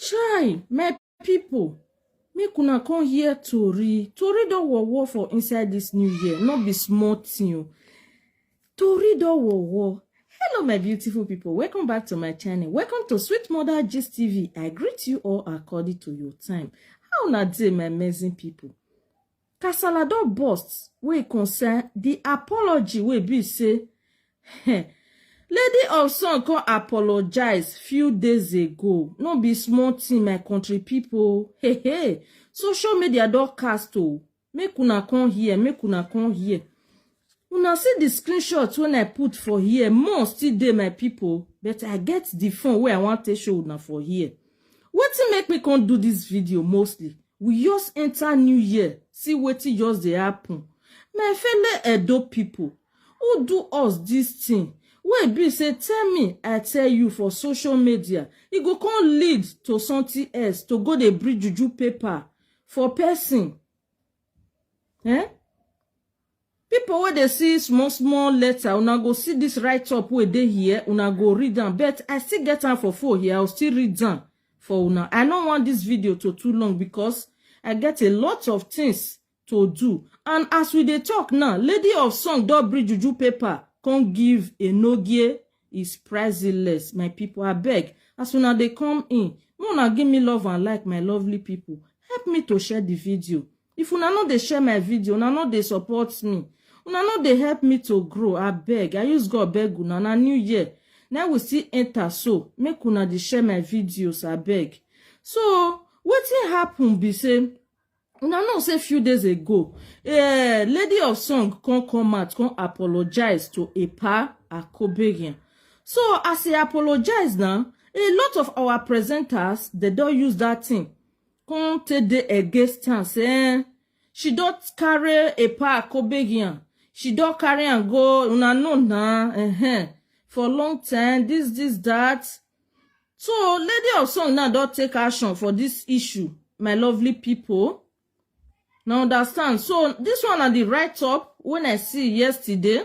Chai, my people, make una come hear Tori. Tori don war war for inside this new year, not be small thing. o. Tori don war war. Hello, my beautiful people. Welcome back to my channel. Welcome to Sweet Mother Gist TV. I greet you all according to your time. How na dey, my amazing people? Kasala don burst wey e concern di apology wey be say Lady of Song come apologize few days ago. No be small thing my country people. Hey hey, social media don cast o. Make una come hear, make una come hear. Una see the screenshot when I put for here. More still dey my people, but I get the phone where I want to show una for here. What to make me come do this video mostly? We just enter new year, see what to just dey happen. My fellow Edo people, who do us this thing? Wey be say tell me, I tell you for social media, e go come lead to something else to go dey bring juju paper for person. Eh? People wey dey see small small letter, una go see this write up wey dey here, una go read am. But I still get am for phone here, I will still read am for una. I no want this video to too long because I get a lot of things to do. And as we dey talk now, Lady of Song don bring juju paper come give Enogie is priceless. My people, abeg, as una dey come in, make una give me love and like, my lovely people. Help me to share the video. if una no dey share my video una no dey support me una no dey help me to grow abeg i use god beg una na new year na we still enter so make una dey share my videos abeg so wetin happen be say una know say few days ago eh, lady of song come come out come apologize to epa akobegin so as e apologize now a lot of our presenters dey don use that thing come take dey against am say eh, she don carry a pack obegian she don carry am go una know na uh-huh. for long time this this that so lady of song now don take action for this issue my lovely people na understand so this one na the write up when i see yesterday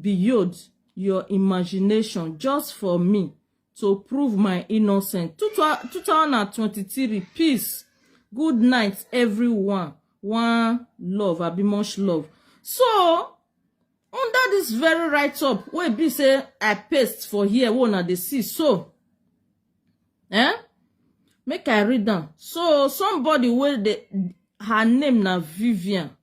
beyond your imagination just for me to prove my innocence. 2023, peace. Good night, everyone. One love, abi much love. So, under this very write-up, wey be say I paste for here, wey una dey see so, eh? Make I read am. So, somebody wey dey, her name na Vivian.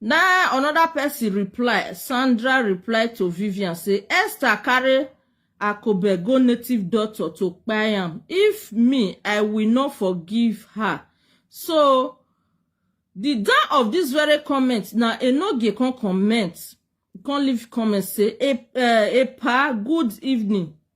na another person reply sandra reply to vivian say esther carry akobe go native doctor to kpai am if me i will not forgive her so the down of this very comment na enoge come comment come leave comment say e eh, epa good evening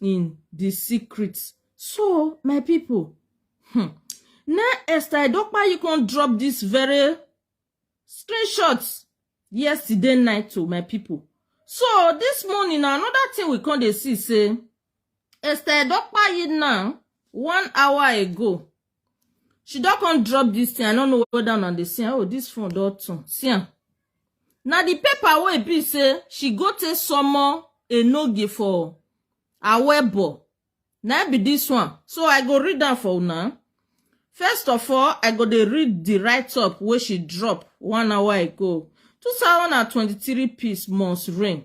in the secret so my people hmm, na esther edopa you can drop this very screenshot yesterday night to my people so this morning na another thing we come dey see say esther edopa yi now one hour ago she don come drop this thing i no know whether una dey see am oh this phone don turn see am na the paper wey be say she go take summon enoge for awebo na im be this one so i go read am for una first of all i go dey read the write up wey she drop one hour ago 2023 peace must reign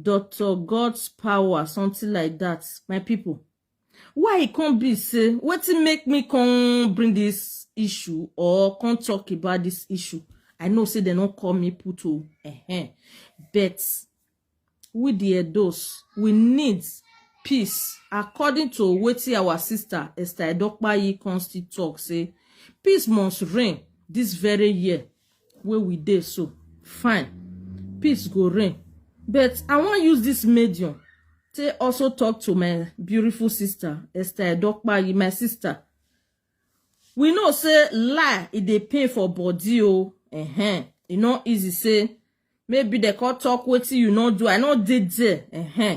Doctor God's power, something like that, my people. Why it can't be say what it make me come bring this issue or come talk about this issue? I know say they don't call me puto, uh -huh. but we the those we need peace according to wetin our sister Esther Edokpayi Consti talk say peace must reign this very year wey we dey so fine peace go reign but i wan use this medium take also talk to my beautiful sister esther edokpayi my sister we know say lie e dey pain for body o uh-huh. e no easy say maybe dem come talk wetin you no do i no dey there uh-huh.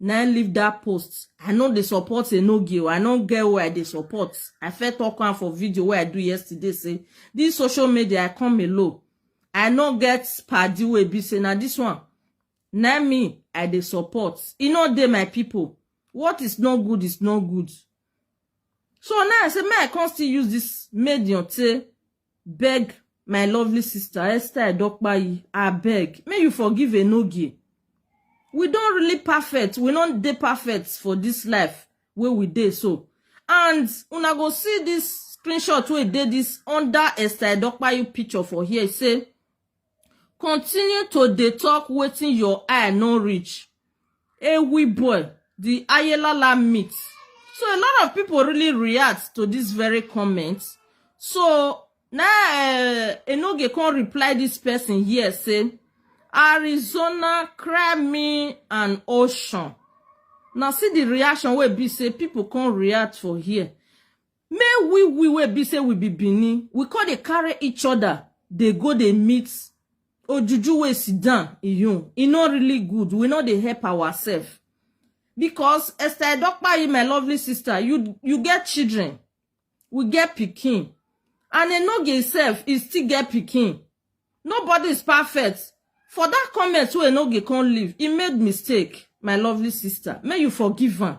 na im leave that post i no dey support enogie o i no get who i dey support i first talk am for video wey i do yesterday say this social media i come alone i no get padi wey be say na this one na me i dey support e no dey my people what is not good is not good So now I say, may I come still use this medium to beg my lovely sister Esther Dokpayi, I beg, may you forgive Enogie. We don't really perfect, we don't dey perfect for this life where we dey so. And una go see this screenshot wey dey this under Esther Dokpayi picture for here, say, continue to dey talk wetin your eye no reach Ewibwe the Ayelala meet so a lot of people really react to this very comment so na uh, Enoge come reply this person here say Arizona cry me an ocean na see the reaction wey be say people come react for here Me we we wey be say we be Benin, we come dey carry each other dey go dey meet ojuju wey sit down iyun. E no really good. We no dey help ourselves. Because Esther Edokpayi, my lovely sister, you you get children. We get pikin. And Enoge self, he still get pikin. Nobody is perfect. For that comment wey Enoge come leave, he made mistake, my lovely sister. May you forgive am.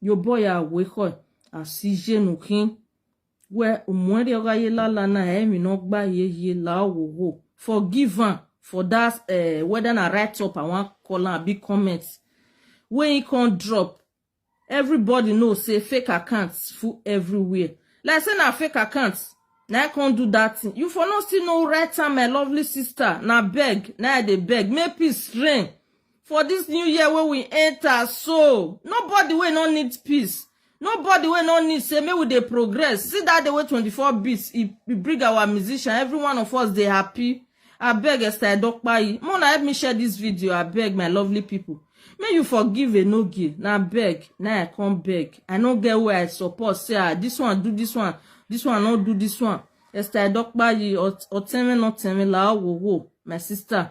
yo boy a we ko a si je nu kin we umwe ri oga ye la la na e mi no gba ye ye la wo wo forgive am for that uh, whether na write up i wan call am abi comment wey he come drop everybody know say fake accounts full everywhere like say na fake accounts na i come do that thing you for no still know right time my lovely sister na beg na i dey beg make peace reign for dis new year wey we enter so nobody wey no need peace nobody wey no need say make we dey progress see dat day wey 24 beats e e bring our musician every one of us dey happy abeg esther edokpayi make una help me share dis video abeg my lovely pipo make you forgive enogie na abeg na i come beg i no get wey i support say ah dis one do dis one dis one no do dis one esther edokpayi ọtẹrin nọtẹrin làá wò wò my sister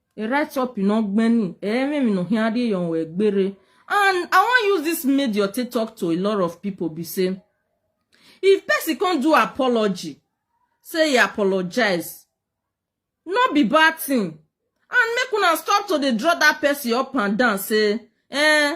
A right up in Ogbeni, Eren in Ohiade Yon Wegbere. And I wan use this media to talk to a lot of people be say, if person come do apology, say he apologize, no be bad thing. And make una stop to dey draw that person up and down say, eh,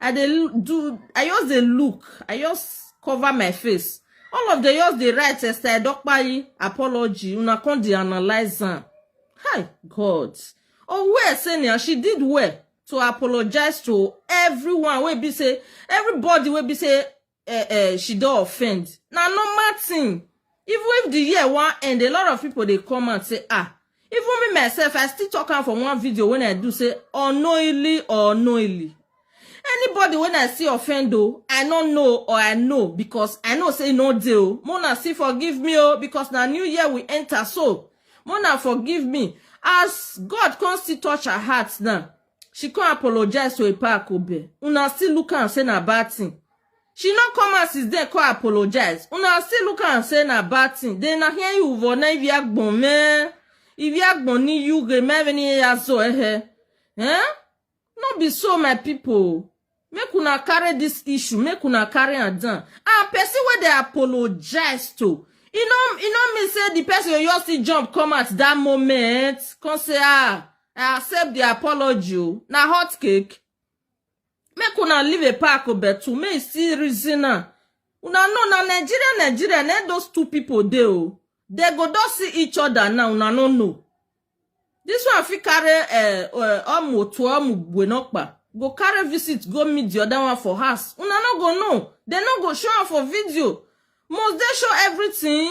i dey l- do i just dey look i just cover my face all of them just dey write esther edokpayi apology una come dey analyse am hi god owe senior she did well to apologize to everyone wey be say everybody wey be say uh, uh, she don offend na normal thing even if the year wan end a lot of people dey come out say ah even me myself i still talk am for one video wey i do say unknowingly or unknowingly anybody wey i see offend o i no know or i know because i know say e no dey o mona still forgive me o because na new year we enter so mona forgive me as god come still touch her heart now she come apologize to epa akobe una still look am say na bad thing she no come out since then come apologize una still look am say na bad thing then na here you for na ibi agbon me ibi agbon ni you ge me ni ya so ehe eh no be so my people Make una carry this issue, make una carry am down. And person wey dey apologize to, e no e no mean say the person go just still jump come out that moment, come say ah, I accept the apology o. Na hot cake. Make una leave a pack o betu, make e still reason am. Una know na Nigeria, Nigeria, na those two people dey o. They go don see each other now, una no know. This one fit carry eh, eh, omu to omu gwenokpa. Go carry visit, go meet the other one for house. Una no go know. They no go show am for video. Must they show everything?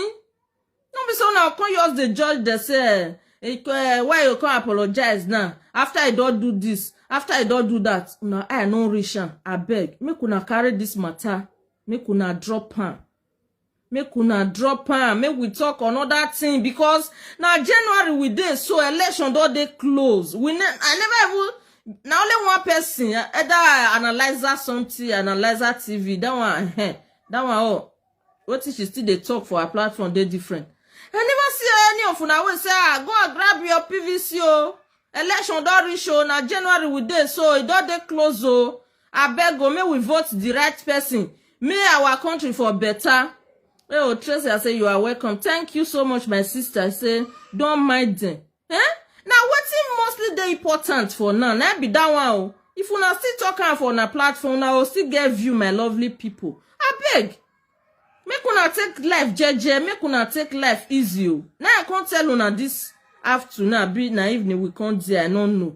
No be so una come just dey judge dey say eh, eh, eh, why you come apologize now after I don do this, after I don do that. Una eye no reach am. Abeg, make una carry this matter, make una drop am. make una drop am make we talk another thing because na january we dey so election don dey close we ne i never even na only one person eh, either i analyzer something analyzer tv that one eh, that one oh wetin she still dey talk for her platform dey different i never see any of una wey say ah go and grab your pvc o election don reach o na january we dey so e don dey close o abeg o make we vote the right person make our country for better hey o tracy i say you are welcome thank you so much my sister i say don mind them eh na wetin mostly dey important for now na be that one o if una still talk am for una platform una go still get view my lovely people abeg make una take life jeje make una take life easy o na i come tell una this afternoon abi na evening we come there i no know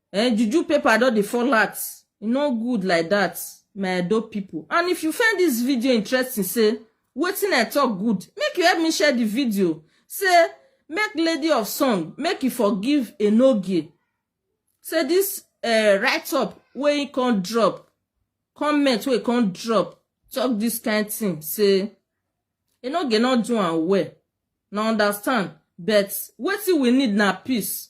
Eh, juju paper don dey fall out. E no good like that, my Edo people. And if you find this video interesting, say wetin I talk good, make you help me share the video. Say make lady of song, make you forgive Enogie. Say this uh, write up wey he come drop, comment wey he come drop, talk this kind thing. Say Enogie no do am well. Now understand, but wetin we need na peace.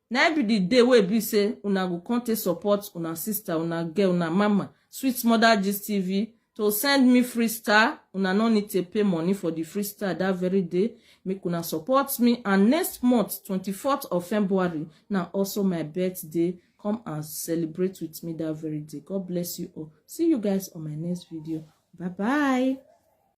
na im be the day wey be say una go come take support una sister una girl una mama sweet mother gist tv to send me free star una no need to pay money for the free star that very day make una support me and next month 24th of february na also my birthday come and celebrate with me that very day god bless you all see you guys on my next video bye bye